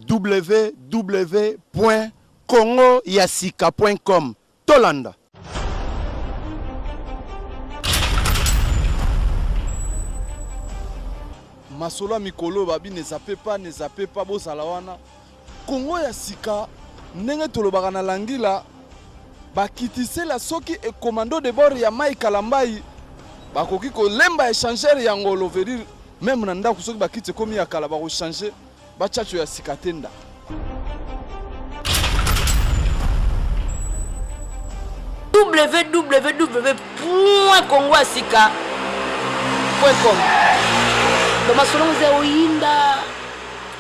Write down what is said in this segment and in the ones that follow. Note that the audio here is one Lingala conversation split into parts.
www.congoyasika.com tolanda masolo ya mikolo oyo babi ne zappe pas ne zappe pas bozala wana Congo ya sika ndenge tolobaka na langila ba kitisela soki e commando de bord ya Mike Kalambayi bakoki kolemba echangeur ya ngolo veut dire meme na ndako soki bakiti ekomi ya kala bako changer ba chacho ya sika te nda www.congoasika.com Domasolongo oyinda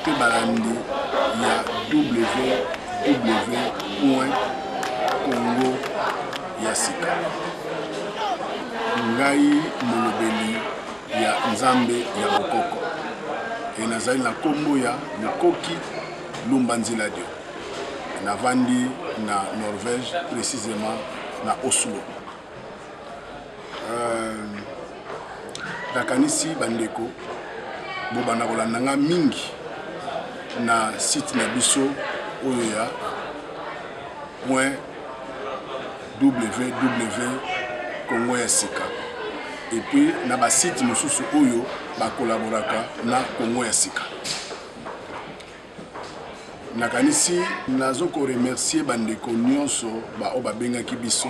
mpe balandi ya www.congo ya sika ngai molobeli ya nzambe ya bokoko e nazali na nkombo ya mokoki lumba nzila dio navandi na norvège précisément na oslo Euh, nakanisi bandeko bobanda kolanda nga mingi na site na biso oyo ya point www congo ya sika epuis na basite mosusu oyo bakolaboraka na congo ya sika nakanisi nazo ko remercier bandeko nyonso baoyo babengaki biso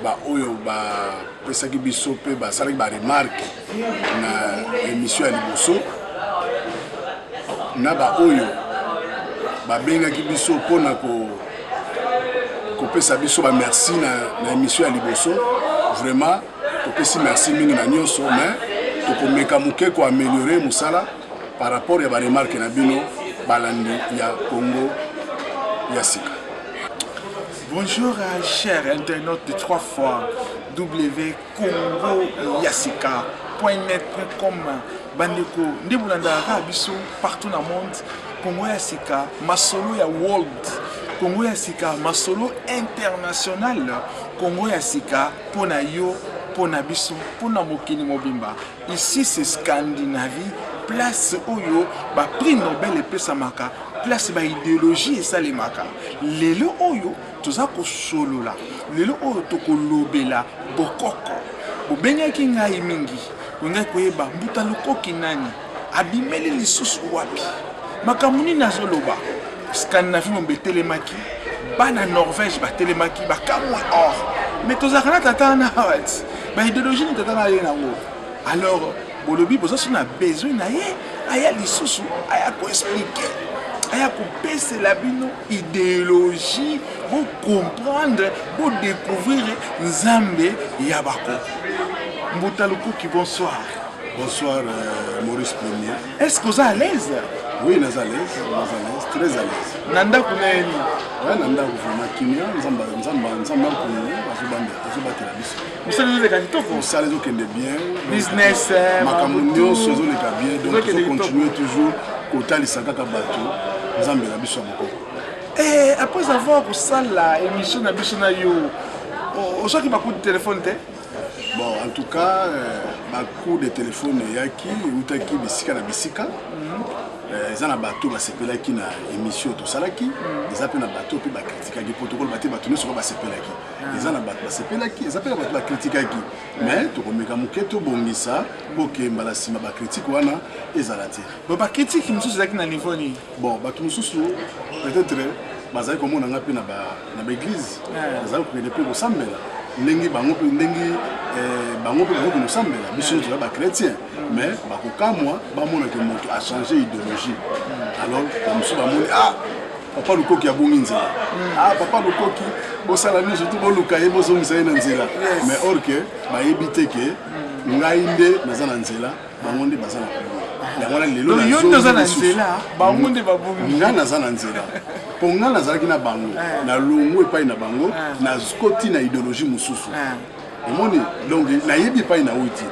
baoyo bapesaki biso mpe basalaki baremarke na emission ya liboso na baoyo babengaki biso mpo na kopesa biso bamerci na, na emission ya liboso vraiment topesi merci mingi na nyonso mais tokomeka moke koameliore mosala par rapport ya ba remarque na bino balandi ya Congo ya sika. Bonjour euh, cher internaute de trois fois W Congo Yasika .net.com bandeko nde bolandaka kaka biso partout na monde Congo ya sika masolo ya world Congo ya sika masolo international Congo ya sika mpo na yo mpo na biso mpo na mokili mobimba Ici c'est Scandinavie, place oyo ba prix Nobel epesamaka, place ba ideologie esalemaka. Lelo oyo toza kosolola, lelo oyo tokolobela bokoko. Bobengaki ngai mingi, olingaki koyeba Mbuta Lukoki nani, abimeli lisusu wapi, makambo nini azoloba. Scandinavie mombe etelemaki, bana Norvège batelemaki, bakamwe or mais tozalaka na tata wana awa ti. ba ideologie nini tata na ye nango alors bolobi boza so na besoin na ye aya lisusu aya koexplike aya kopesela bino ideologie bocomprendre bodécouvrir nzambe ya bakoko mbuta lukuki bonsoir bonsoir euh, maurice premier est ce que oza à l'aise oui naza à l'aise naza à l'aise très à l'aise na ndako na ye nini oya na ndako vraiment kimia nzambe nzambe nzambe akongo azobanda azobatela biso mosala ezoleka kitoko mosala ezokende bien business eh, makambo nyonso ezoleka bien donc tozocontinue toujours kotalisa kaka bato nzambe na biso ya mokoko eh, après avoir kosala émission na biso na yo ozwaki bakuti telefone te Bon, en tout cas, euh, ba coup de téléphone eyaki eutaki bisika na bisika mhm. euh, eza na bato basepelaki na émission tosalaki mhm. eza mpe na bato mpe bakritikaki mpo tokoloba te bato nyonso ka basepelaki ah. eza na bato basepelaki eza mpe na bato bakritikaki mais tokomeka moke tobongisa mpo ke mbala nsima bakritike wana ezala te bakritike mosusu ezalaki na niveau nini bon bato mosusu peut-être bazali komona ngai mpe na baeglize bazali kokende mpe kosambela ndenge bango mpe ndenge eh, bango mpe bakoki kosambela biso toza bachrétien mais bakokamwa bamona ke moto achange idéologie alors bamosusu bamoni ah papa lukoki abongi nzela hmm. ah papa lukoki bosala nyonso to boluka ye bozongisa ye na nzela mais or ke bayebi te ke hmm. ngai nde naza na nzela bango nde baza na pouvoir yango wana lelo Donc, yo nde oza na nazongi nzela lisusu. bango nde babongi nga naza na nzela mpo nga nazalaki na bango Eh. na longo epai na bango Eh. nakoti na idéologie mosusu Eh. omoni donc nayebi epai na uti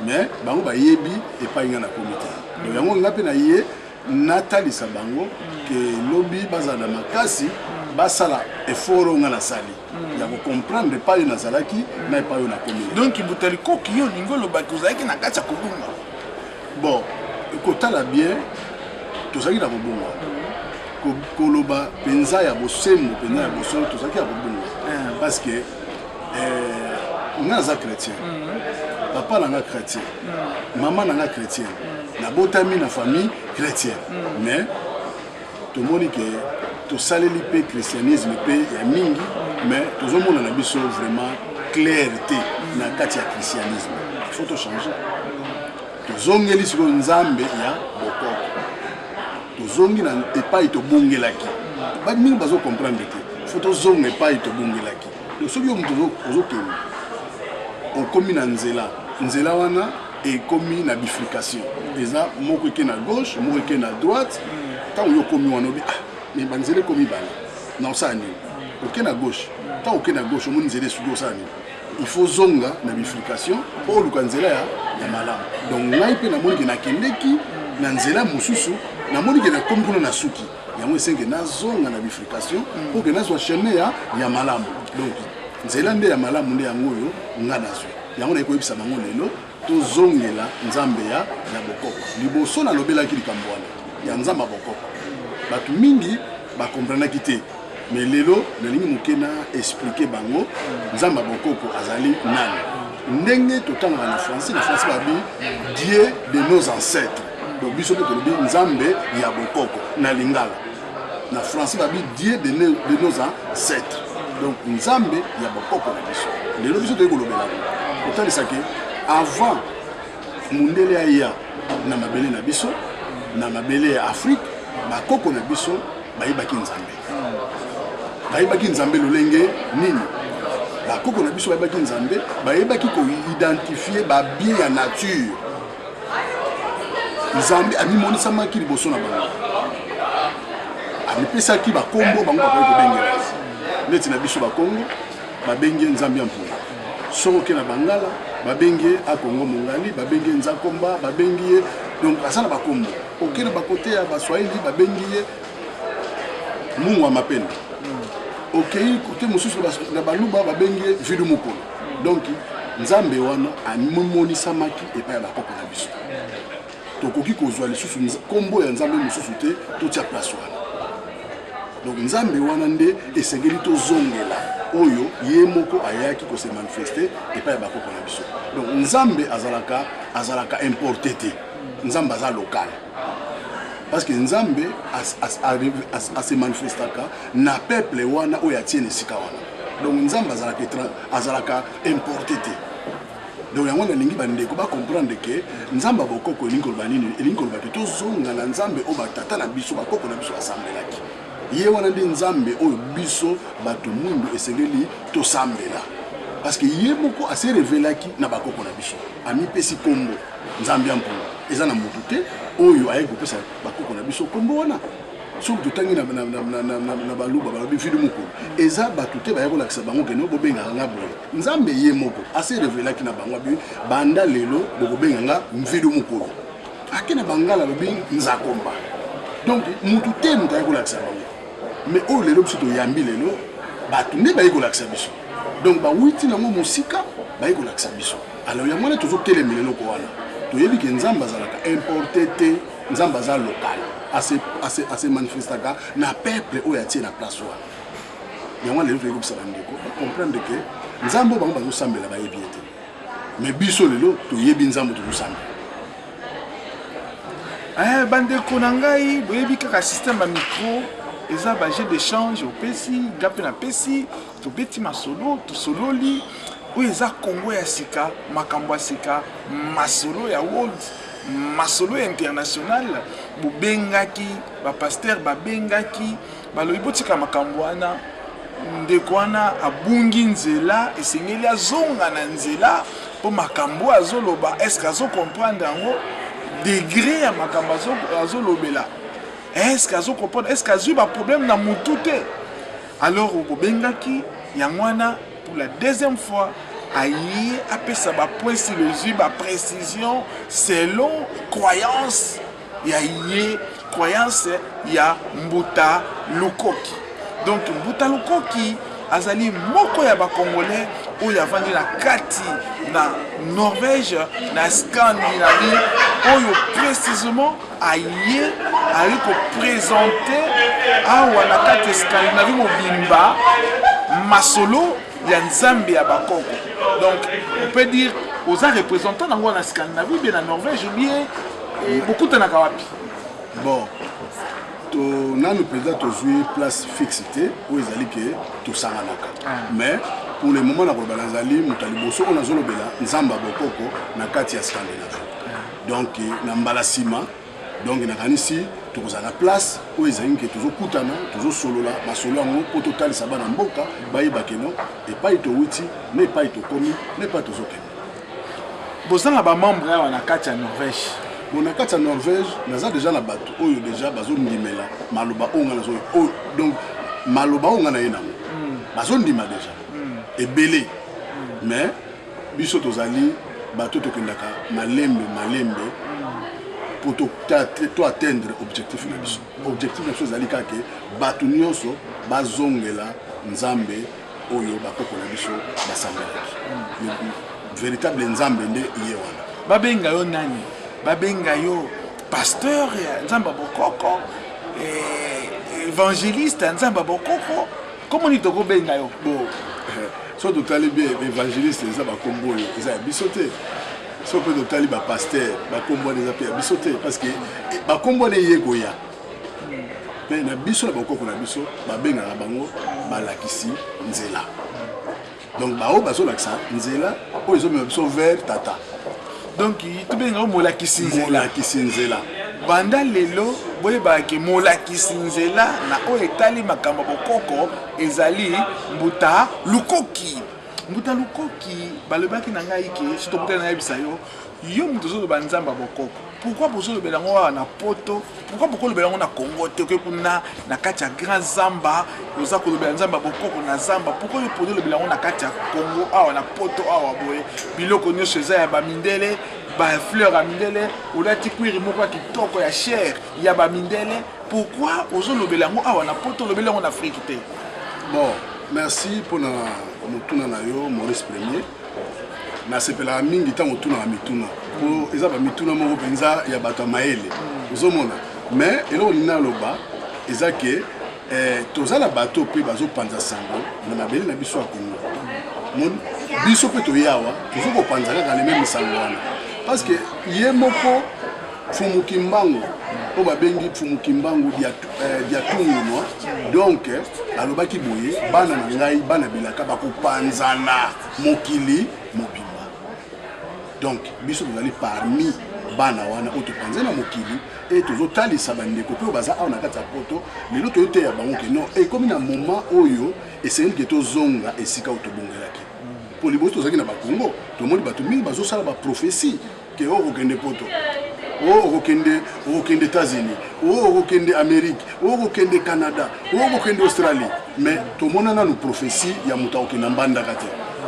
mais bango bayebi epai nga nakomi te donc yango nga mpe naye natalisa bango ke lobi bazala na makasi basala effort oyo nga nasali mm. ya kocomprendre epai oyo nazalaki mm. na epai oyo nakomi donk buta likoki yo olingi olobaki ozalaki na kati ya kobunga bon kotala bien tozalaki na kobunga mm. koloba mpenza ya bosembo mpenza ya bosolo tozalaki ya kobunga eh. parce que eh, nga naza chrétien mm. papa na nga chrétien mm. mama na nga chrétien mm. nabotami na famille chrétien mm. mais tomoni ke tosaleli mpe christianisme mpe ya mingi mm. mais tozomona na biso vraiment claire te mm. na kati ya christianisme il faut tochange tozongeli sikoyo nzambe ya bokoko tozongi na epai tobungelaki bato mingi bazokomprendre te fo tozonga epai tobungelaki donc soki yo moto ozokende okomi na nzela nzela wana ekomi na bifurcation eza moko eke na gauche moko eke na droite ntango yo okomi wana obi ah me banzela ekomi bana na osala nini oke na gauche ntango oke na gauche omoni nzela esuki osala nini il faut zonga na bifurcation mpo oluka nzela ya, ya malamu donc ngai mpe namoni ke nakendeki na nzela mosusu namoni ke nakomi kuna na suki yango esenge nazonga na bifurcation mpo ke nazwa chemin ya, ya malamu donc nzela nde ya malamu nde yango oyo nga nazwi yango nayekoyebisa bango lelo Tozongela Nzambe ya ya bokoko. Liboso nalobelaki likambo wana ya Nzambe ya bokoko, bato mingi ba comprenaki te, mais lelo nalingi moke na expliquer bango Nzambe ya bokoko azali nani. Ndenge totangaka na français, na français babi Dieu de nos ancêtres, donc biso mpe tolobi Nzambe ya bokoko na lingala. na français babi dieu de, ne, de nos ancêtres donc nzambe ya bakoko na biso lelo biso toyei kolobela kotalisa ke avant mundele aya na mabele na biso na mabele ya afrique bakoko na biso bayebaki nzambe bayebaki nzambe lolenge nini bakoko na biso bayebaki nzambe bayebaki koidentifie babie ya nature nzambe amimonisamaki liboso na bango amipesaki bakombo bango bakoki kobengela neti na biso bakongo babengi ye nzambe ya mpunga soko oke na bangala babengi ye akongo mongali babengi ye nzakomba babengi ye donc aza na bakombo oke na bakote ya baswahili babengi ye mungu ya mapende okei kote mosusu na baluba babengi ye vidu mokolo donc nzambe wana amimonisamaki epai ya bakoko na biso tokoki kozwa lisusu nkombo ya nzambe mosusu te totya place wana donc nzambe wana nde esengeli tozongela oyo ye moko ayaki kose manifeste epai ya bakoko na biso donc nzambe azalaka azalaka importe te nzambe aza lokale parce que nzambe ase manifestaka na peuple wana oyo atie na esika wana donc nzambe azalaka azalaka importe te donc yango nalingi bandeko bacomprendre ke nzambe ya bokoko elingi koloba nini elingi koloba ke tozonga na nzambe oyo batata na biso bakoko na biso basambelaki ye wana nde nzambe oyo biso bato mwindu esengeli tosambela parce que ye moko ase revelaki na bakoko na biso amipesi nkombo nzambe ya mpolo eza na moto te oyo ayaki kopesa bakoko na biso nkombo wana soki totangi na baluba balobi vili mokolo eza bato te baya kolakisa bango keno bobengaka nga boye nzambe ye moko ase revelaki na bango abi banda lelo bokobenga nga mvili mokolo ake na bangala alobi nzakomba donc motu te moto aye kolakisa bango mais oyo lelo biso toyambi lelo bato nde baye kolakisa biso donc bawuti nango mosika baye kolakisa biso alors yango wana tozotelemela eloko wana toyebi ke nzambe azalaka importe te nzambe aza local ase manifestaka na peuple oyo atie na place wana yango wana lelo toyekobisa bandeko bacomprendre ke nzambe oyo bango bazosambela bayebi ye te mais biso lelo toyebi nzambe tozosamba eh, bandeko na ngai boyebi kaka système ya micro eza bajet d'échange opesi nga mpe napesi tobeti masolo tosololi oyo eza congo ya sika makambo ya sika masolo ya world masolo ya international bobengaki bapaster babengaki Balobi botika makambo wana, ndeko wana abungi nzela, esengeli azonga na nzela mpo makambo oyo azoloba eske azo comprendre yango degre ya makambo azolobela eske azo comprendre eske azwi baproblème na motu te alors bobengaki yango wana pour la deuxième fois aye apesa bapoint silozwi baprécision selon croyance ya ye croyance ya mbuta lukoki donc mbuta lukoki azali moko ya bacongolais oyo avandi na kati na norvège na scandinavie oyo précisement aye aye kopresente awa na kati ya scandinavie mobimba masolo ya nzambe ya bakoko donc on peut dire oza représentant nango na scandinavie bie na norvège bie Eh, bokutanaka wapi bon to nanu mpenza tozwi place fixe te oyo ezali ke tosanganaka ah. mais pour le moment nakoloba nazali moto ya liboso oyo nazolobela nzambe ya bokoko na kati ya scandinavie ah. donc na mbala nsima donc nakanisi tokozala na place oyo ezali nke tozokutana tozosolola masolo yango mpo totalisa bana mboka bayeba keno epai towuti na epai tokomi na epai tozokende boza na ba membre awa na kati ya norvège bon na kati ya norvège naza deja na bato oyo deja bazondimela maloba oyo nga nazoyo oyo donc maloba oyo nga na ye nango hmm. bazondima deja hmm. ebele hmm. mais biso tozali bato tokendaka malembe malembe mpo to atteindre objectif na biso objectif na biso ezali kaka bato nyonso bazongela nzambe oyo bakoko na biso basambelaki hmm. véritable nzambe nde ye wana babenga yo nani babenga yo pasteur ya nzambe ya bokoko eh, évangéliste ya nzambe ya bokoko komo nini tokobenga yo bo eh, so totali bien évangéliste eza bakombo oyo eza ya biso te so mpe totali bapaster bakombo wana eza mpe ya biso te parce que eh, bakombo wana eye koya mais na biso na bokoko na biso babengaka bango balakisi nzela donc baoyo bazolakisa nzela oyo ezomema biso vers tata donc tobengaka molakisi nzelakisi nzela banda lelo boyebaka ke molakisi nzela na oyo etali makambo ya bokoko ezali mbuta lukoki mbuta lukoki balobaki na ngai ke sitokutana nayebisa yo Yo mutu ozoloba nzambe ya bokoko pourquoi bozolobela yango awa na poto pourquoi bokolobela yango na congo te oke kuna na kati ya grand zamba oza kolobela nzambe ya bokoko na zamba pourquoi yo poni olobela yango na kati ya congo awa na poto awa boye biloko nyonso eza ya bamindele bafleur ya mindele olati kwiri moko ya kitoko ya chere ya bamindele pourquoi ozolobela yango awa na poto olobeli yango na afrike te bon merci mpona motuna na yo maurice premier nasepelaka mingi ntango otunaka mituna mpo eza bamituna moko mpenza ya bato ya mayele ozomona mais eloko nini naloba eza ke eh, toza na bato mpe bazopanza sango na mabele na biso ya kongo moni biso mpe toye awa tozo kopanza kaka le meme sango wana parce que ye moko fumukimbangu oyo babengi fumukimbangu diatu eh, diatungunwa donc alobaki boye bana na ngai bana bilaka bakopanzana mokili mobimba donc biso tozali parmi bana wana oyo topanze na mokili e tozotalisa bandeko mpe oyo baza awa na kati ya poto lelo toyoteya bango ke non ekomi na moment oyo esengeli ke tozonga esika oyo tobongelaki mpo liboso tozalaki na bakongo tomoni bato mingi bazosala baprofesi ke o kokende poto o okokende okokende états-unis o okokende amérique o okokende canada o okokende australie mais tomona nanu prophétie ya moto akokenda mbandaka te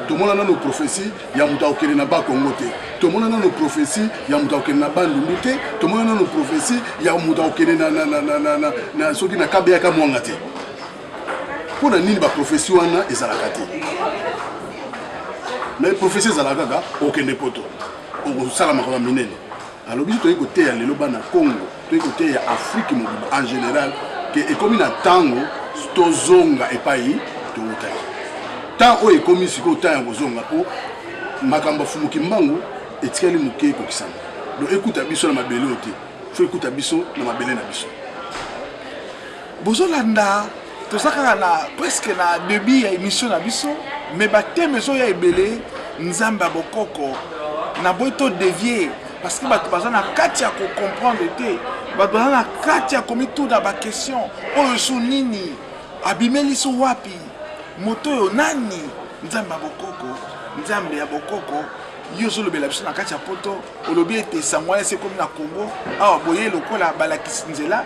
tomona nanu prophétie ya moto akokende na bakongo te tomona nanu prophétie ya moto akokende na bandundu te tomona nanu prophétie ya moto akokende soki na kabeyaka mwanga te mpo na nini baprofesi wana ezalaka te me profesi ezalaka kaka okende poto okosala makambo minene alobi biso toyei koteya lelo bana congo toyei koteya afrike mobimba en général ke ekomi na ntango tozonga epai towutaki ntango oyo ekomi sikoyo ntango ya kozonga mpo makambo afumuki mbangu etikali moke ekokisama donc ekuta biso na mabele oyo te fo ekuta biso na mabele na biso bozolanda toza kaka na presque na debut ya émission na biso mais bateme ezoya ebele nzambe ya bokoko na boyi to devie parce que bato baza na kati ya kocomprendre te bato baza na kati ya komituna baquestion oyo su nini abimelisi wapi moto oyo nani nzambe ya bokoko nzambe ya bokoko yo ozolobela biso na kati ya poto olobi ete sango wana esi ekomi na congo awa boye lokola balakisi nzela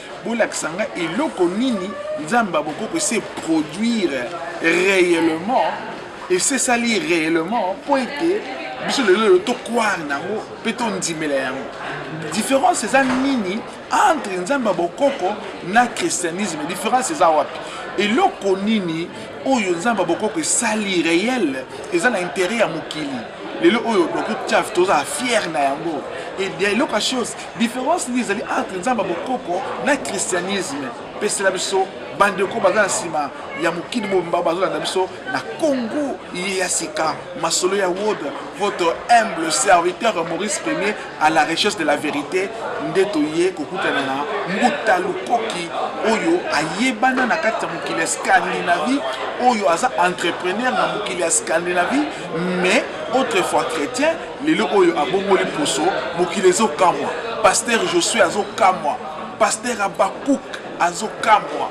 Bolakisa nga eloko nini Nzambe ya bokoko ese produire réellement esesali réellement mpo ete biso lelo lelo tokwaa nango mpe tondimela yango différence eza nini entre nzambe ya bokoko na christianisme différence eza wapi eloko nini oyo nzambe ya bokoko esali réel eza na intérêt ya mokili lelo oyo dokotaf tozala fiere na yango eloko ya chose Difference nini ezali entre nzambe ya bokoko na christianisme? Pesela biso bandeko baza na nsima ya mokili mobimba bazolanda biso na congo ye ya sika masolo ya wod votre humble serviteur maurice premier à la recherche de la vérité nde toye kokutana na mbuta lukoki oyo ayebana na kati ya mokili ya scandinavie oyo aza entrepreneur na mokili ya scandinavie mais autrefois chrétien lelo oyo abongoli poso mokili ezokamwa paster josue azokamwa paster abakuk azokamwa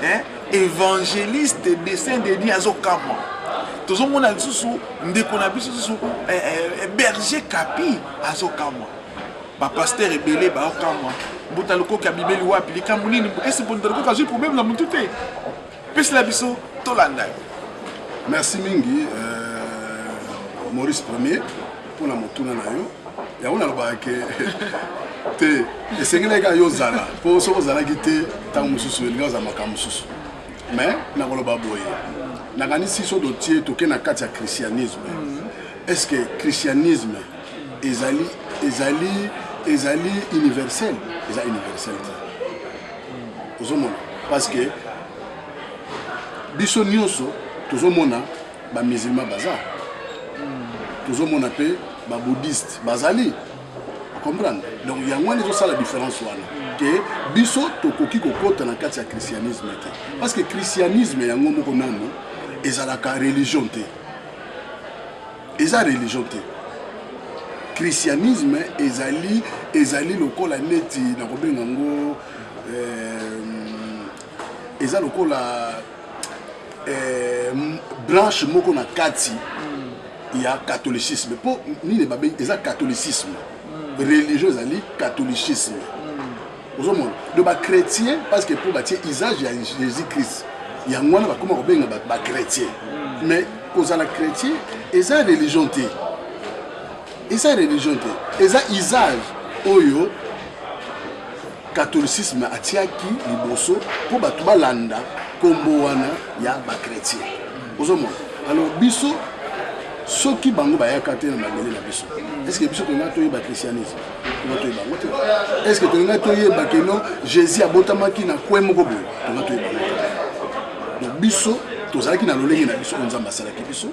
eh? evangeliste dessin dedi azokamwa tozomona lisusu ndeko na biso lisusu eh, eh, berger kapi azokamwa bapaster ebele baokamwa mbuta lokoki abimeli wapi likambo nini esi mbuta lokoki azwi probleme na motu te Pesela biso tolanda yo. Merci mingi euh, Maurice Premier mpona motuna na yo yango nalobaka ke te esengelaki kaka yo ozala mpo soki ozalaki te ntango mosusu elingi ozala makambo mosusu mais nakoloba boye nakanisi so dotie toke na kati ya christianisme mhm. est ce que christianisme ezali ezali ezali universel eza universel te ozomona parce que biso nyonso tozomona bamisilma baza tozomona mpe babouddhiste bazali comprendre donc yango wana ezosala différence wana ke biso tokoki kokota na kati ya christianisme te parce que christianisme yango moko nano ezalaka religion te eza religion te christianisme ezali ezali lokola neti nakobenga yango euh, eza lokola euh, branche moko na kati mm. ya catholicisme mpo nini babengi eza catholicisme mm. religion ezali catholicisme ozomona do bachrétien parce que mpo batie usage ya jésus christ yango wana bakoma kobenga bachrétien hmm. mais kozala chrétien eza religion te eza religion te eza usage oyo catholicisme atiaki liboso mpo bato balanda nkombo wana ya bachrétien ozomona alors biso soki bango bayaka te na mabele na biso eske biso tona toyeba christianisme tonga toyeba yango te est ce que tolingai toyeba ke non jésus abotamaki na kwe moko boye tonga toyeba yango te donc biso tozalaki na lolenge na biso oyo nzambe asalaki biso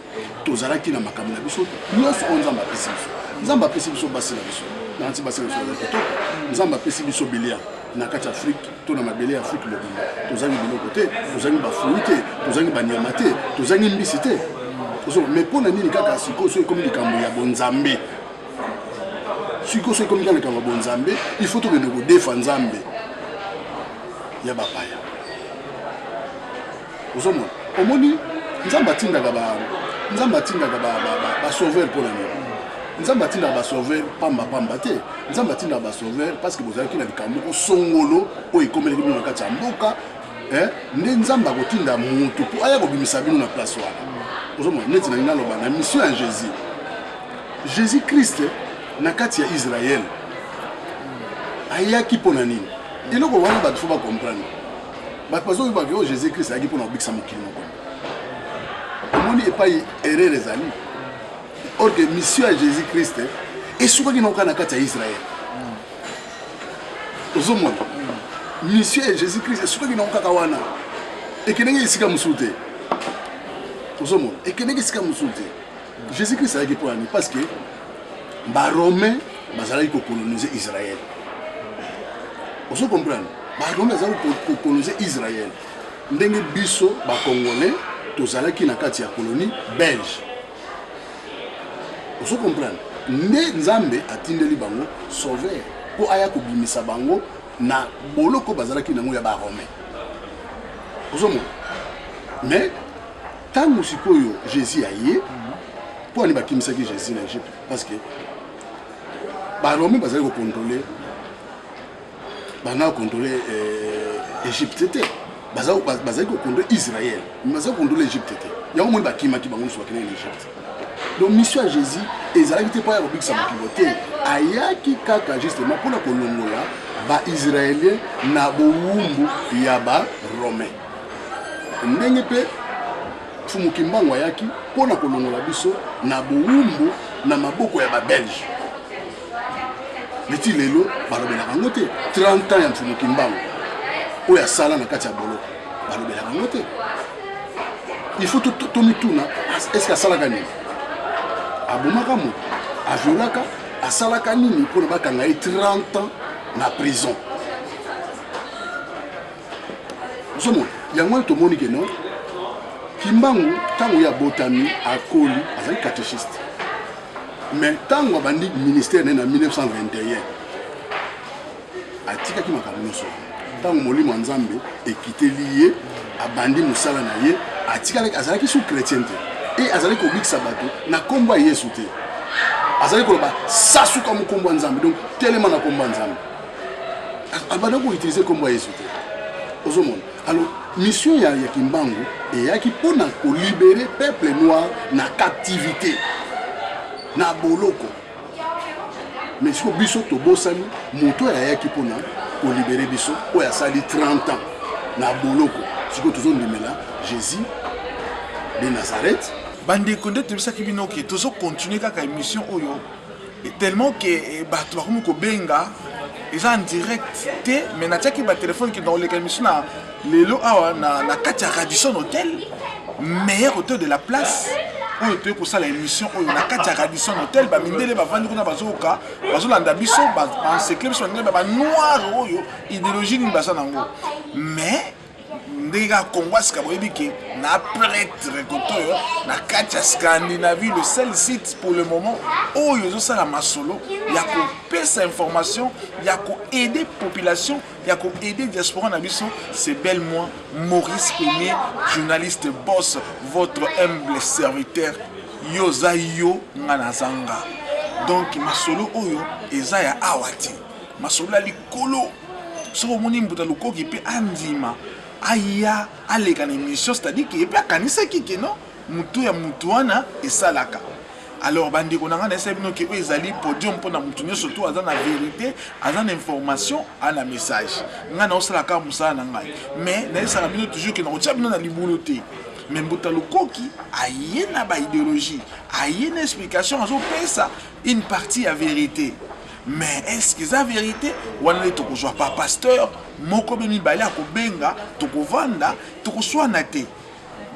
tozalaki na makambo na biso nyonso oyo nzambe apesi biso nzambe apesi biso basi na biso nanti basi na biso baza kitoko nzambe apesi biso bilia na kati ya afrike to na mabele ya afrike mobimba tozangi biloko te tozangi bafui te tozangi banyama te tozangi mbisi te mais mpo na nini kaka sikoyo soki ekomi likambo ya bonzambe sikoyo soki ekomi kaka likambo ya bonzambe il faut tokende kodefa nzambe ya bapaya ozomona omoni nzambe atindaka ba nzambe atindaka basauveur mpo na nini nzambe atindaka basauveur pamba pamba te nzambe atindaka basauveur parce que bozalaki na likambo moko songolo oyo ekomelaki bino na kati ya mboka eh, nde nzambe akotinda motu mpo aya kobimisa bino na place wana ozomona neti nalingi naloba na mission ya jésus Jesus Christ na kati ya Israël ayaki mpo na nini? Eloko wana bato fo bacomprendre. Bato bazoyeba ke oyo Jesus Christ ayaki mpo na kobikisa mokili moko. Omoni epai erreur ezali. Or que mission ya Jesus Christ esukaki na oka na kati ya Israël. Ozomona mission ya Jesus Christ esukaki na okaka wana. Ekendeki esika mosusu te. Ozomona ekendeki esika mosusu te. Jesus Christ ayaki mpo nani? Parce que ba Romain bazalaki ko coloniser Israël. Ozo comprendre? Ba Romain bazali ko coloniser Israël. Ndenge biso ba Congolais tozalaki na kati ya colonie belge. Ozo comprendre? Nde Nzambe atindeli bango sauveur mpo aya kobimisa bango na boloko bazalaki nango ya ba Romain. Ozo mona? Mais Tango sikoyo Jesus aye mpo ani bakimisaki Jesus na Egypte parce que baromi bazali kokontrole bana kokontrole euh, Egypte te bazali kokontrole Israël mais bazali kokontrole Egypte te yango moni bakimaki bango nyonso bakendaki na Egypte donc mission ya Jésus ezalaki te mpo ya kobikisa mokili te ayaki kaka justement mpona kolongola baisraélien na bowumbu ya baromain ndenge mpe mfumu kimbangu ayaki mpo na kolongola biso na bowumbu na maboko ya babelge neti lelo balobelaka yango te 30 ans ya mfumu kimbangu oyo asala na kati ya boloko balobelaka yango te il faut tomituna eske asalaka nini abomaka moto aviolaka asalaka nini mpo na bakanga ye 30 ans na prison ozomona yango wana tomoni ke non kimbangu ntango ye abotami akoli azali catéchiste mais ntango abandi ministère naye na 1921 atikaki makambo nyonso ntango molimo ya nzambe ekiteli ye abandi mosala na ye atikalaki azalaki sous chrétien te e azali kobikisa bato na nkombo ya yesu te azali koloba sasuka mokombo ya nzambe donc telema na nkombo ya nzambe abanda ah, ah, koutilize nkombo ya yesu te ozomona alors mission ya, ya kimbangu eyaki mpo na kolibere peuple noir na captivité na boloko mais siko biso tobosani moto oyo ayaki mpo na kolibere biso oyo asali 30 ans na boloko sikoyo tozondimela jésus de nazareth bandeko nde toyebisaki bino ke tozokontinue kaka émission oyo Et tellement que eh, bato bakomi kobenga eza en direct te mais natiaki batelefone ke nakoleka émission na lelo awa na, na kati ya radison hotel meilleur hotel de la place oyo toye kosala émission oyo na kati ya radison hotel bamindele bavandi kuna bazoyoka bazolanda biso baensekle biso bamindele banoire oyo idéologie nini baza nango mais ndenge kaka congo asika boyebi ke na pretre kote oyo na kati ya scandinavie le seul site pour le moment oyo ezosala masolo ya kopesa information ya koaide population ya koaide diaspora na biso c'est bel moi maurice premier journaliste boss votre humble serviteur yo oza yo nga nazanga donc masolo oyo eza ya awa te masolo ya Kolo, soki omoni mbuta lukoki pe andima aya aleka na emission c'est-à-dire que pe akanisaki que non mutu ya mutu wana esalaka alors bandeko na ngai nayesa bino ke oyo ezali podium mpo na moto nyonso to aza na verité aza na information a na message ngai naosala kaka mosala na ngai mais nayesaka bino toujours ke nakotya bino na libulu te me mbuta lukoki aye na baideologie aye na explication azopesa une partie ya verité Mais est-ce que eza verite wana nde tokozwa pa pasteur moko be mibale akobenga tokovanda tokoswana te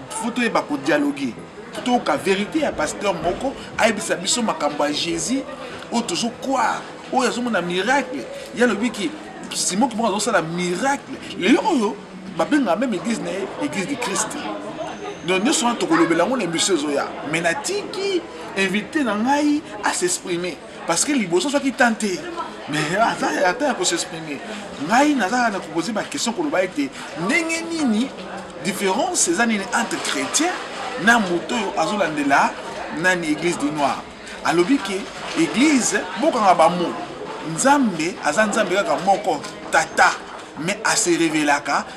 fo toyeba kodialogue totoyoka verite ya pasteur moko ayebisa biso makambo ya jésus oyo tozokware oyo azomona miracle ye alobi ki simon kimoko azosala miracle lelo oyo babengaka meme église na ye église de christ donc nyonso wana tokolobela yango na emission ezoya mai natiki invité na ngai asexprime parce que liboso soki tan te mais aza ata ya kosexprime ngai nazalaka na kopose baquestion koloba ete ndenge nini différence eza nini entre chrétien na moto oyo azolandela nani église du noir alobi ke église bokanga bamo nzambe aza nzambe kaka moko tata mais aserevelaka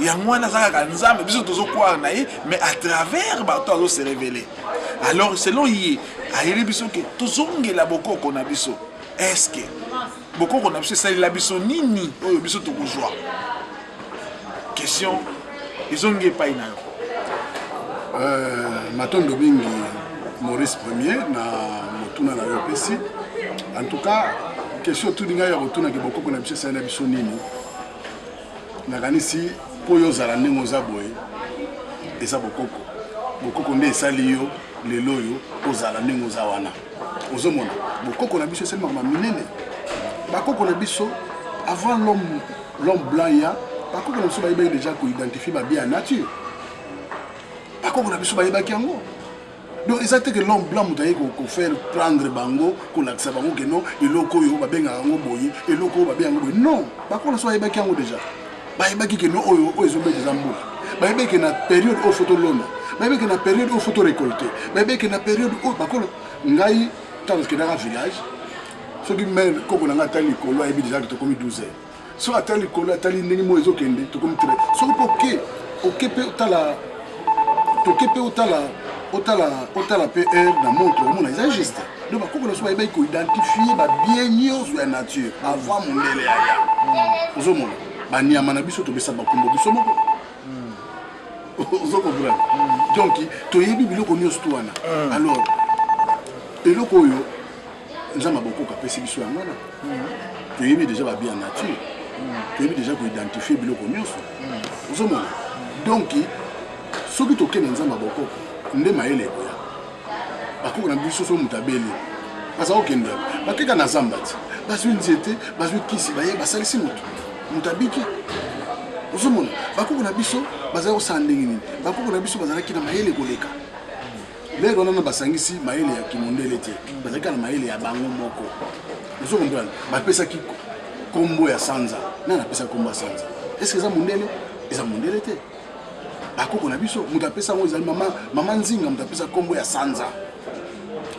yango wana aza kaka nzambe biso tozokwara na ye mais à travers bato azo se révéler alors selon ye ayeli biso ke tozongela bokoko na biso eske bokoko na biso esalela biso nini oyo biso tokozwa question ezongi epai na yo euh, matondo mingi maurice premier na motuna na yo opesi en tout cas question otuni ngai ya kotunaki bokoko na biso esalela biso nini nakanisi mpo yo ozala ndenge oza boye eza bokoko bokoko nde esali yo lelo oyo ozala ndenge oza wana ozomona bokoko na biso esali makambo minene bakoko na biso avant l'homme l'homme blanc ya bakoko na biso bayebaki deja koidentifie babia ya nature bakoko na biso bayebaki yango donc eza te ke l'homme blanc moto aye kofaire prendre bango kolakisa bango ke non eloko oyo babengaka yango boye eloko oyo babe yango boye non bakolo so bayebaki yango déjà bayebaki ke non oyo oyo ezobeta eza mbula bayebaki ke na période oyo fo tolona bayebaki ke na période oyo fo torecolte bayebaki ke na période oyo bakolo ngai ntango tokendaka village soki mare koko na ngai atali likolo ayebi déjà ke tokomi 12 heures so ata likolo atali ndenge moi ezokende tokomi tre soki mpe oke oke mpe otala toke mpe otala otala otala mpe heure na montre omona eza juste donc bakoko na biso bayebaki koidentifie babie nyonso ya nature avant mondele ya ya hmm. ozomona banyama na biso topesa bakombo biso moko hmm. ozokomprendre hmm. donc toyebi biloko nyonso to wana alors eloko oyo nzambe abokoko apesi biso yango wana toyebi deja babi ya nature toyebi deja koidentifie biloko nyonso ozomona donk soki tokei na nzambe abokoko nde mayele ekoya bakoko na biso so moto abeli baza kokende bakeka na zamba ti bazwi nzete bazwi kisi baye basalisi moto moto abiki ozomona bakoko na biso bazali kosala ndenge nini bakoko na biso bazalaki na mayele koleka lelo nano basangisi mayele ya kimundele te bazalaki kaka na mayele ya bango moko ozo comprendre bapesaki nkombo ya sanza nani apesa nkombo ya sanza eske eza mondele eza mondele te bakoko na biso moto apesa yango ezali mama, mama nzinga moto apesa nkombo ya sanza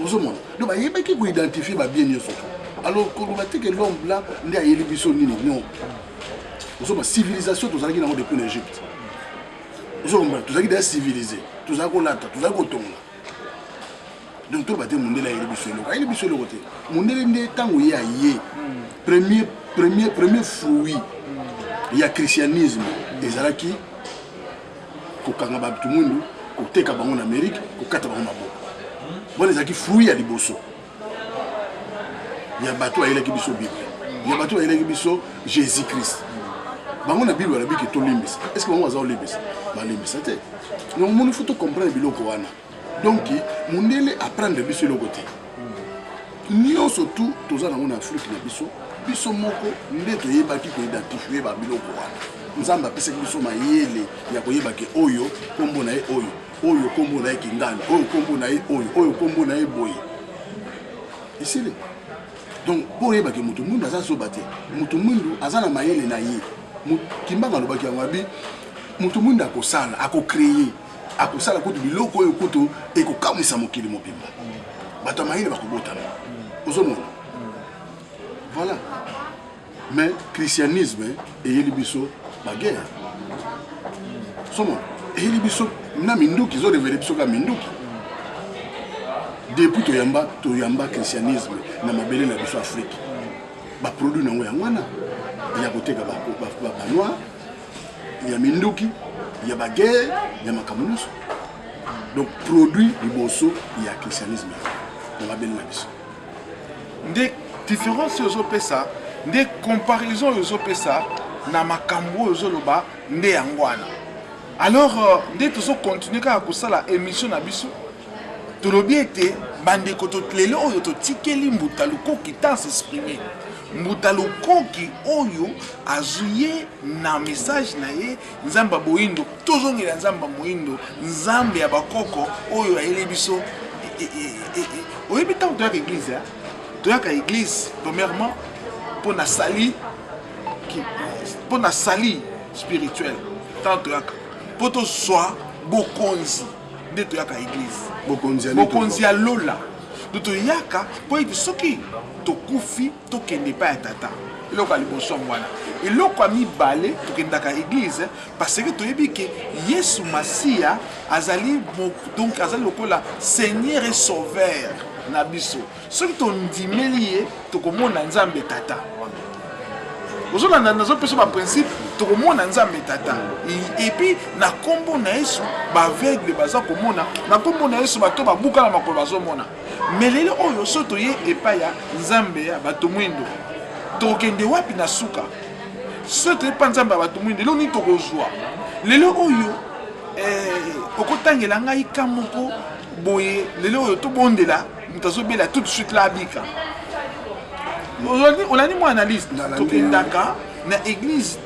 ozomona do bayebaki koidentifie babie nyonso alors koloba te ke l'homme blanc nde ayeli biso nini non ozoma civilisation tozalaki nango depuis na egypte ozo comprendre tozalaki deja civilise tozalaki kolata tozalaki kotonga donc toloba te mondele ayeli biso eloko ayeli biso eloko te mondele nde ntango ye aye hmm. premier premier premier fruit hmm. ya christianisme hmm. ezalaki kokanga bato mwindu koteka bango na amérique kokata bango maboko wana ezalaki fruit ya liboso ya bato bayelaki biso bible ya bato bayelaki biso jésus christ bango na bible balobi ke tolimbisa est ce que bango baza kolimbisa balimbisa te donc omoni fo tocomprendre biloko wana donc mondele aprendre biso eloko te nyonso tu toza nango na afrike na biso biso moko nde toyebaki koidentifie babiloko wana nzambe apesaki biso mayele ya koyeba ke oyo nkombo na ye oyo oyo nkombo na ye kingani oyo nkombo na ye oyo oyo nkombo na ye boye esili donc mpo oyebaki moto mwindu aza zoba te moto mwindu aza na mayele na ye kimbanga alobaki yango abi moto mwindu akosala akocreye akosala kutu biloko oyo kutu ekokamwisa mokili mobimba bato ya mayele bakobotana ozomona voilà mais christianisme eyeli biso baguerre somo eyeli biso na minduki ezorevele biso kaka minduki depuis toyamba toyamba christianisme na mabele na biso afrique baproduit na yango yango wana ya koteka banoir ya minduki ya baguerre ya makambo nyonso donc produit liboso ya christianisme na mabele na biso nde difference oyo ozopesa nde comparaison oyo ozopesa na makambo oyo ozoloba nde yango wana alors euh, nde tozokontinue kaka kosala émission na biso tolobi ete bandeko lelo oyo totikeli mbuta lukoki ta s'exprime mbuta lukoki oyo azuye na message na ye Nzambe ya boyindo, tozongela Nzambe ya moyindo, Nzambe ya bakoko oyo ayeli biso. E, e, e, Oyebi ntango toyaka eglise, toyaka eglise premièrement mpo na sali, mpo na sali spirituel, ntango toyaka mpo tozwa bokonzi nde toyaka eglise, bokonzi ya lola nde toyaka mpo ete soki tokufi tokende epai ya tata eloko ya liboso yango wana eloko ya mibale tokendaka eglize parce que toyebi ke yesu masiya azali donc azali lokola seigneur et sauveur na biso soki tondimeli ye tokomona nzambe tata ozolanda nazopesa baprincipe tokomona nzambe tata epuis na nkombo na yesu baaveugle baza komona na nkombo na yesu bato babukana makolo bazomona Mais lelo oyo so toye epai ya Nzambe ya bato mwindo, tokokende wapi na suka? So toye epai Nzambe ya bato mwindo, eloko nini tokozwa? Lelo oyo eh, okotangela ngai ka moko boye, lelo oyo tobondela moto azobela tout de suite la abika. Olandi mwa analyse, tokendaka na église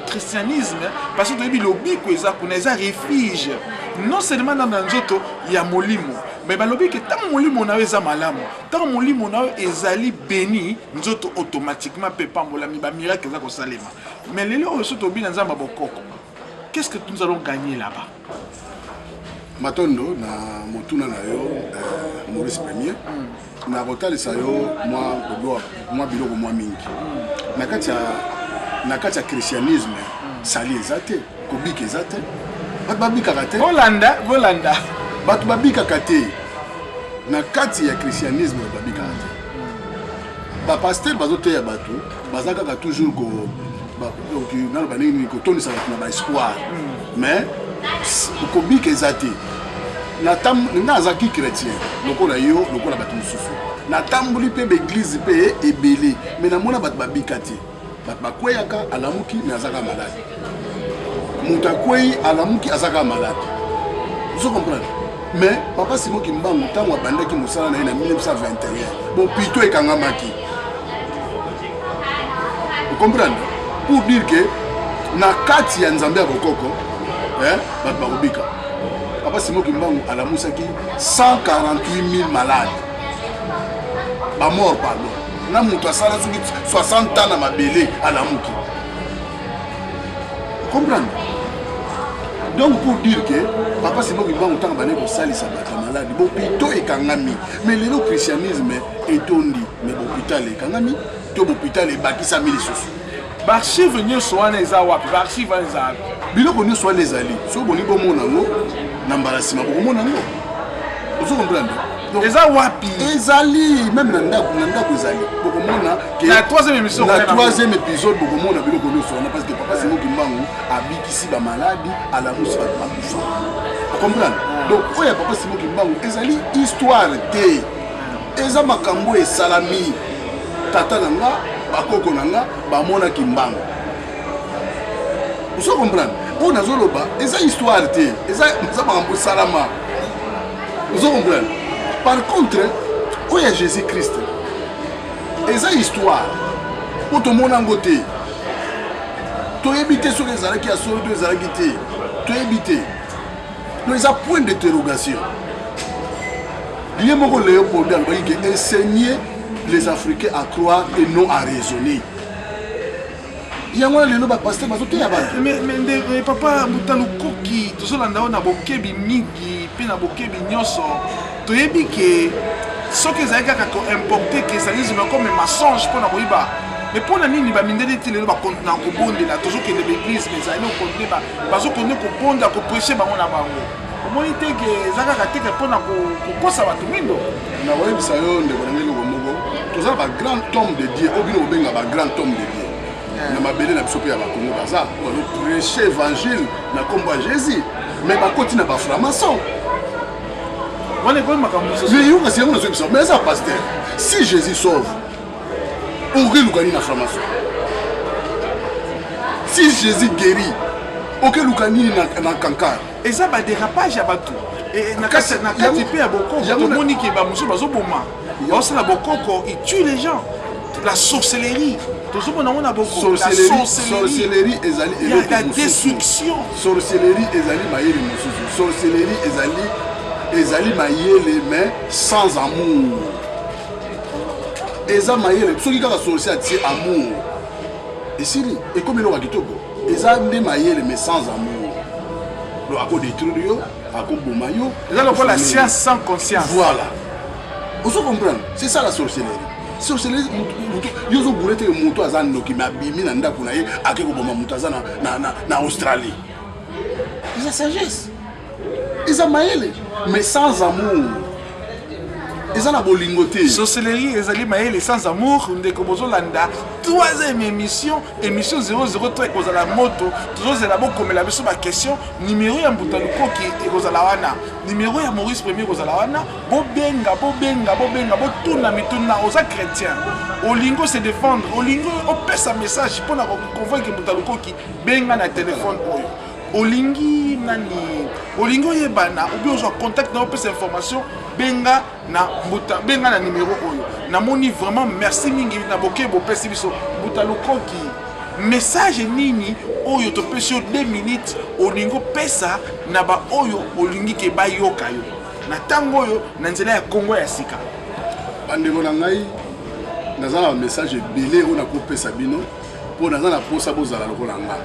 christianisme parce que toyebi lobiko eza kuna eza refuge non seulement na na nzoto ya molimo me balobi ke ntango molimo na yo eza malamu ntango molimo na yo ezali beni nzoto automatiquement mpe epambolami bamiracle eza kosalema me lelo oyo so tobi na nzambe ya bokoko qu'est ce que nous allons gagner là-bas matondo na motuna na yo eh, maurice premier mm. na kotalisa yo mwa kodoa mwa biloko mwa mingi na kati ya na kati ya christianisme mm. sali eza te kobika eza te bato babikaka te bolanda bolanda bato babikaka te na kati ya christianisme babikaka te mm. bapaster bazoteya bato baza kaka toujours ko donc nano bandenge nini kotondisa bato na baespoir hmm. mais kobika eza te nga azalaki chrétien lokola yo lokola bato mosusu natamboli mpe baeglize mpe ebele me namona bato babika te bato bakweyaka alamuki me azaka malade moto akwei alamuki aza kaka maladi ozo comprendre mais papa simo kimbangu ntango abandaki mosala na ye na 1921 bopito ekangamaki okomprendre pour dire que na kati ya nzambe ya bokoko bato bakobika papa simo kimbangu alamusaki 148 000 malade bamort pardon na moto asala soki 60 ans na mabele alamuki comprendre donc pour dire que papa simo kimbangu ntango bane kosalisa bato ya maladi bopito ekangami mais lelo christianisme etondi mais bopital ekangami to bopital ebakisami lisusu baarchive nyonso wana eza wapi baarchive wana eza wapi biloko nyonso wana ezali soki bolingi bomona yango na mbala nsima bokomona yango ozo comprendre eza wapi ezali meme na ndako na ndako ezali bokomona na troisième épisode bokomona biloko nyonso wana parce que papa simo kimbangu abikisi bamaladi alamusi bato bakufa okomprendre ah. donc oyo ya papa simo kimbangu ezali histoire te eza makambo esalami tata na nga bakoko na nga bamona kimbangu ozo comprendre oyo nazoloba eza histoire te eza makambo esalama ozo comprendre par contre oyo ya jésus christ eza histoire mpo tomona yango te toyebi te soki ezalaki ya solo to ezalaki te toyebi te no eza point d'interrogation ye moko leopoldo alobaki ke enseigner les africains à croire et non à raisonner yango wana lelo bapaster bazoteya bato papa mutalukoki tozolanda yo na bokebi mingi mpe na bokebi nyonso toyebi ke soki ezali kaka koimporte ke ezali zima comme mensonge mpo na koyiba mais mpo na nini bamindeli ti lelo bakontina kobondela tozokende baeglise mais ezali okonde bazokonde kobonda kopreshe bango na bango omoni te ke eza kaka te ke mpo na kokosa bato mindo nakoyebisa yo ndeko na ngai eloko moko toza na bagrand tome de dieu oyo bino kobenga bagrand tome de dieu na mabele na biso mpe ya bakongo baza prêche évangile na nkombo ya jésus mais bakoti na baframason wana ekomi makambo mosusu mais yo kasi yango nazoyebisa mais eza paster si jésus sauve okelukani na framason si jésus guéri okeluka nini na kankar eza ba derapage ya batu na kati mpe ya bokoko tomoni ke bamosusu bazoboma baosala bokoko il tue les gens la sorcellerie tozomona yango na bokosorcellerie ezali ya destruction sorcellerie ezali mayele mosusu sorcellerie ezali ezali mayele mais sans amour eza mayele soki kaka sorcier atie amour esili ekomi eloko ya kitoko eza nde mayele mais sans amour do akodétruire yo akoboma yo eza lokola science sans conscience voilà ozo comprendre c'est ça la sorcellerie sorcellerie yo ozobule teke moto aza ndoki me abimi na ndako na ye ake koboma moto aza na australie eza sagesse eza mayele mais sans amour eza na bolingo te sorcellerie ezali mayele sans amour ndeko bozolanda troisième émission émission 003 ekozala moto tozozela bokomela biso baquestion numero ya mbuta lukoki ekozala wana numero ya maurice premier ekozala wana bobenga bobenga bobenga botuna mituna oza chrétien olingo se défendre olingo opesa message mpo na koconvoike mbuta lukoki benga na telefone oyo olingi nani olingi oyebana obi ozwa contact na opesa information benga na mbuta benga na numero oyo namoni vraiment merci mingi na bokei bopesi biso mbuta lukoki message nini oyo topesi yo 2 minutes olingi opesa na baoyo olingi ke bayoka yo na ntango oyo na nzela ya kongo ya sika bandeko na ngai naza na bamessage ebele oyo nakopesa bino mpo naza na mposa bozala lokola nga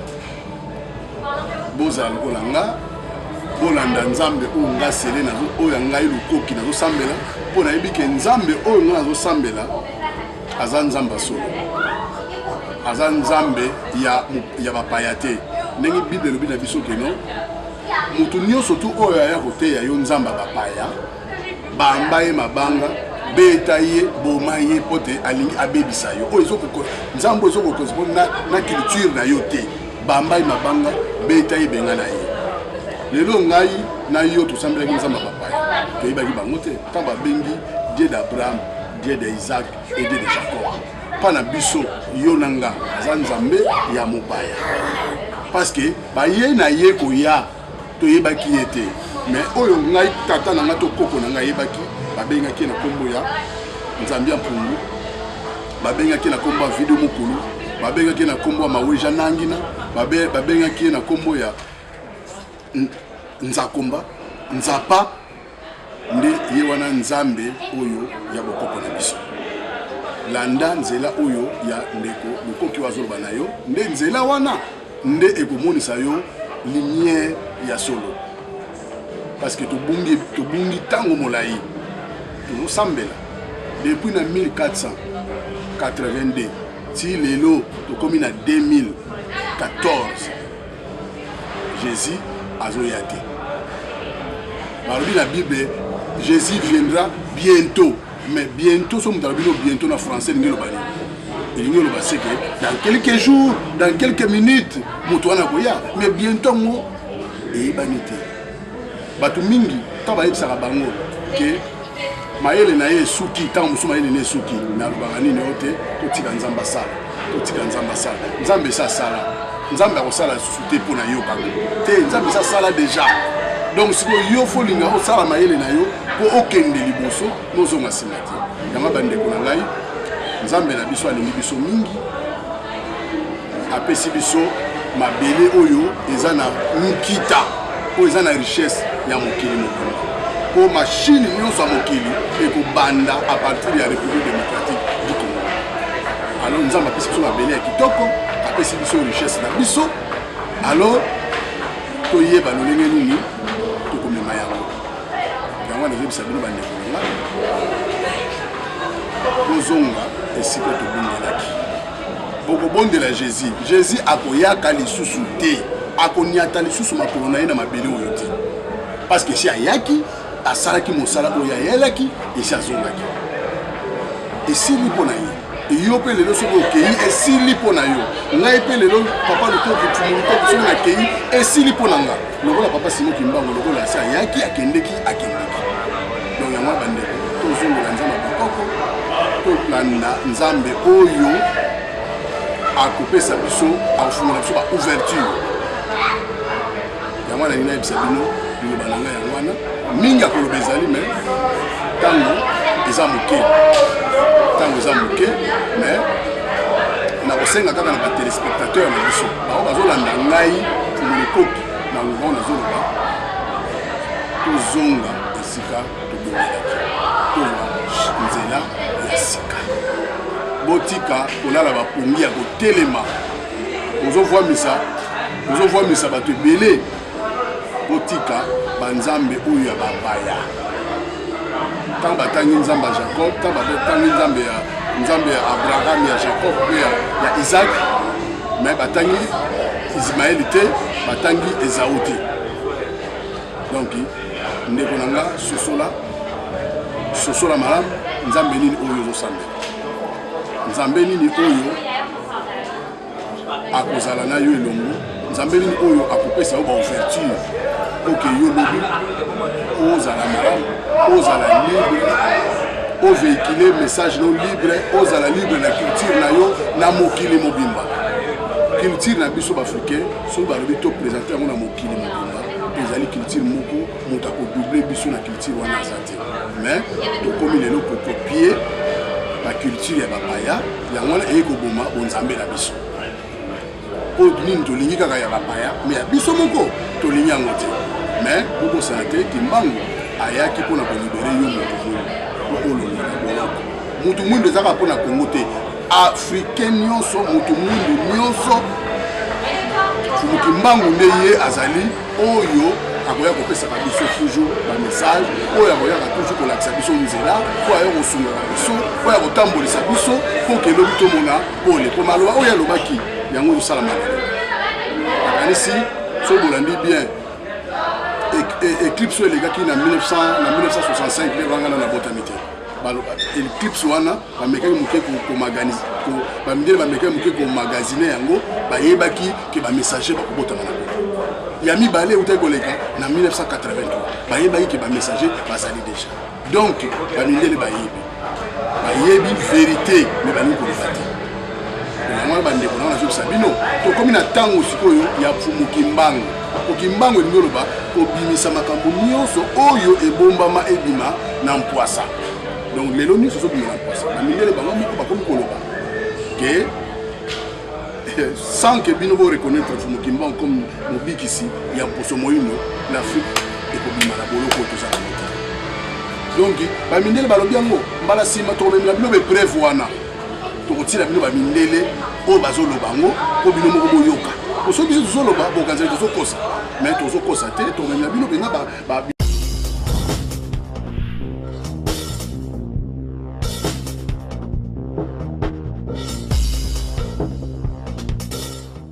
bozala lokola nga bolanda nzambe oyo nga sele oyo ya ngai lukoki nazosambela mpo nayebi ke nzambe oyo nga nazosambela aza nzambe ya solo aza nzambe ya, ya bapaya te ndenge bible elobi na biso keno moto nyonso tu oyo aya koteya yo nzambe ya bapaya bamba ye mabanga beta ye boma ye mpo te alingi abebisa yo oyo nzambe oyo ezokokorespondre na, na culture na yo te bamba ye mabanga beta ye benga na ye lelo ngai na yo tosambelaki nzambe ya bapaya toyebaki bango te ntango babengi dieu d'abraham dieu de isaac et dieu de jacob mpa na biso yo na nga aza nzambe ya mopaya parce que baye na ye koya toyebaki ye te mais oyo ngai tata na ngai to koko na ngai ayebaki babengaki ye na nkombo ya nzambi ya mpungu babengaki ye na nkombo ya video mokulu babengaki ye na nkombo ya maweja nangina babengaki ye na nkombo ya nzakomba nzapa nde ye wana nzambe oyo ya bokoko na biso landa nzela oyo ya ndeko mokoki oyo azoloba na yo nde nzela wana nde ekomonisa yo lumière ya solo parce que tobungi tobungi ntango molai tozosambela depuis na 1482 ti lelo tokomi na 2014 Jesus azoya te balobi na bible jesus viendra bientôt mais bientôt soki moto alobi no bientôt na français elingi eloba nini elingi eloba seke dans quelques jours dans quelques minutes moto wana akoya mais bientôt yango eyebani te bato mingi ntango bayebisaka bango ke mayele na ye esuki ntango mosusu mayele na ye esuki me alobaka nini oyo te totika nzambe asala totika nzambe asala nzambe esi asala nzambe akosala lisusu te mpo na yo kaka te nzambe esi asala deja donc sikoyo yo fo olinga osala mayele na yo mpo okende liboso nozonga nsima te yango bandeko na ngai nzambe na biso alingi biso mingi apesi biso mabele oyo eza na nkita oyo eza na richesse ya mokili mokili mpo mashine nyonso ya mokili ekobanda a partir ya république démocratique du congo alors nzambe apesi biso mabele ya kitoko apesi biso richesse na biso alors toyeba lolenge nini tokomema yango yango nazobisa bino bandeko na nga tozonga esika tobundelaki bokobondela jésus jésus akoyaka lisusu te akonyata lisusu makolo na ye na mabele oyo te parce que si ayaki asalaki mosala oyo ayelaki esi azongaki esili mpo na ye yo mpe lelo soki okei esili mpo na yo ngai mpe lelo papa lutoki tumurutoki soki nakei esili mpo na nga lokola papa simo kimbango lokola asi ayaki akendeki akendeki donc yango ya bandeko tozongela nzambe ya bokoko tolanda nzambe oyo akopesa biso akofungola biso ba ouverture yango wana nina yebisa bino liloba na ngai yango wana mingi ya koloba ezali me ntango eza moke ntango eza moke me nakosenga kaka na batelespectateur na biso bango bazolanda ngai kumolikoki na louvant nazoloba tozonga esika tobongelaki tozwa nzela ya sika botika kolala bapongi ya kotelema ozovwamisa tozovwamisa bato ebele botika banzambe oyo ya babaya ntango batangi nzambe ya jacob ntango batangi nzambe ya nzambe ya abraham ya jacob mpe ya isak me batangi ismaeli te batangi ezau te donk ndeko na nga sosola sosola malamu nzambe nini oyo ozosambela nzambe nini oyo akozala na yo elongo nzambe nini oyo akopesa yo baouverture oke yo lobi ozala malamu ozala libre oveikile message no libre ozala libre na culture na yo na mokili mobimba culture na biso baafricain soki balobi to présente yango na mokili mobimba ezali culture moko moto akodouble biso na culture wana azati mais tokomi lelo kokopie baculture ya bapaya yango wana eye koboma bonzambe na biso mpo nini tolingi kaka ya bapaya me ya biso moko tolingi yango te me bokosana te kimbangu ayaki mpo na kolibere yo moto mwindo mpo olonga na boloko moto mwindo ezaka mpo na kongo te africain nyonso moto mwindo nyonso fumukimbangu nde ye azali oyo akoya kopesaka biso toujours bamessage oyo akoyaka toujours kolakisa biso nzela mpo ayo kosungaka biso mpo ya kotambolisa biso mpo kelobi tomona pole mpo maloba oyo alobaki yango ezosala malelo nakanisi soki bolandi bien eclipse oyo elekaki na 1965 nde bangana na botami te baloba eclipse wana bamekaki moke bamindele bamekaki moke komagasine yango bayebaki ke bamessager bakobotama na koko ya mibale eutaki koleka na 1983 bayebaki ke bamessager bazali deja donc bamindele bayebi bayebi verité me balingi koloba te yango bandeko nanga nazobisa bino tokomi na ntango sikoyo ya mfumu kimbangu po kimbangu elingi oloba kobimisa makambo nyonso oyo ebombama ebima na mpwasa donc lelo nyonso ezobima na mpwasa na mindele bango moko bakomi koloba ke sans ke bino boreconnaitre mfumu kimbangu comme mobikisi ya mposo moino l'afrique ekobima na boloko tozala moto donc bamindele balobi yango mbala nsima tokomemela bino bepreuve wana tokotiela bino bamindele oyo bazoloba yango mpo bino moko boyoka osoki biso tozoloba bokanzali tozokosa mai tozokosa te tomemela bino mpenza